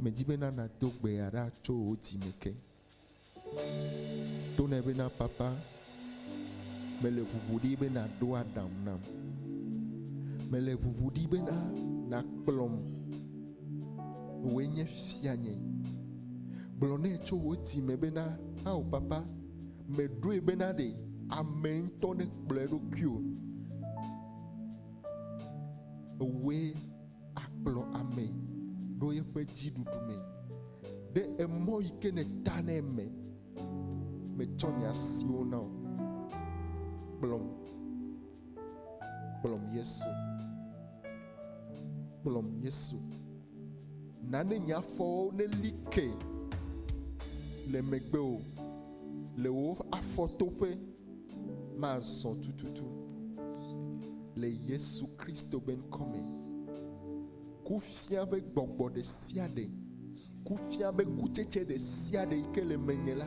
Medi be na nàdo gbe aɖa tso wò dzi me ke. Tonɛ be na Papa, mele ʋuʋu ɖi be nàɖo aɖaŋu nam. Mele ʋuʋu ɖi be na nàkplɔm. Wòe nye fianye. Gblɔ nɛ tso wò dzi me be na, Ao Papa, meɖoe be na ɖe ame ŋutɔ nekplɔ eɖokui o. Ewòe. akplɔ ame ɖo eƒe dziɖuɖu me. Ɖe emɔ yi ke nèta ne eme metsɔ nye asiwo na o. Kplɔm, kplɔm Yesu, kplɔm Yesu. Na ne nye afɔwo neli ke le megbewò le wò afɔtoƒe. Mazɔ tututu le Yesu Kristo be ŋkɔ me. Kufia be gbɔgbɔ ɖe sia ɖe, kufia be kutsetse ɖe sia ɖe yi ke le menye la,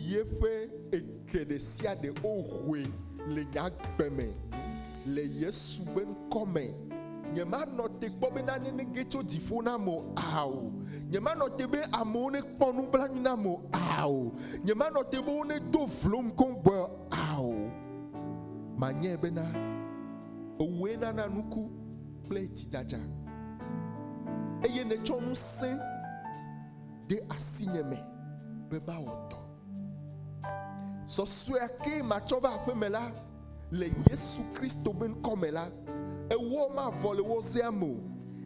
yeƒe eke ɖe sia ɖe wohoe le nye agbe me. Le Yesu ƒe ŋkɔ me, nyemanɔ te kpɔ be nane nege tso dziƒo nam o, ao. Nyemanɔ te be amewo nekpɔ nublanui nam o, ao. Nyemanɔ te be wonedo vlom koŋgbɔe o, ao. Manyae bena ewòe nana nuku kple tsidzadza, eye nètsɔ ŋusẽ de asinye me be mawɔ dɔ. Sɔsɔea kee matsɔ va aƒeme la, Le Yesu Kristo ƒe ŋkɔ me la, ewɔ mavɔ le wɔzea me o,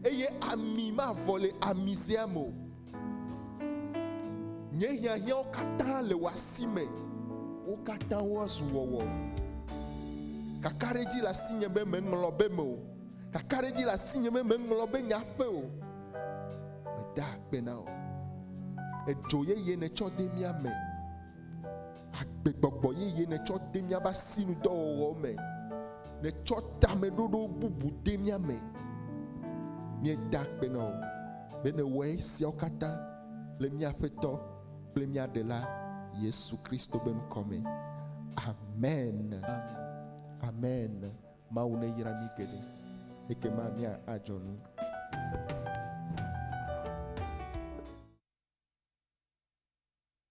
eye ami mavɔ le amizea me o. Nye hiahiãwo katã le wò asi me, wo katã woazu wɔwɔ. Kakaɖedzi le asinye be meŋlɔ be me o, kakaɖedzi le asinye be meŋlɔ be nya ƒe o. Meda akpe na wò, edzo yeye nètsɔ de mía me. agbegbɔgbɔ yeye nètsɔ de míaƒe asinudɔwɔwɔ me, nètsɔ tameɖoɖo bubu de mía me. Míeda akpe na wò be nèwɔ esiawo katã le mía Aƒetɔ kple mía Ɖela Yesu Kristo ƒe ŋkɔ me. Amen. Amen. Mawu neyra mí geɖe. Ekema mía adzɔ nu.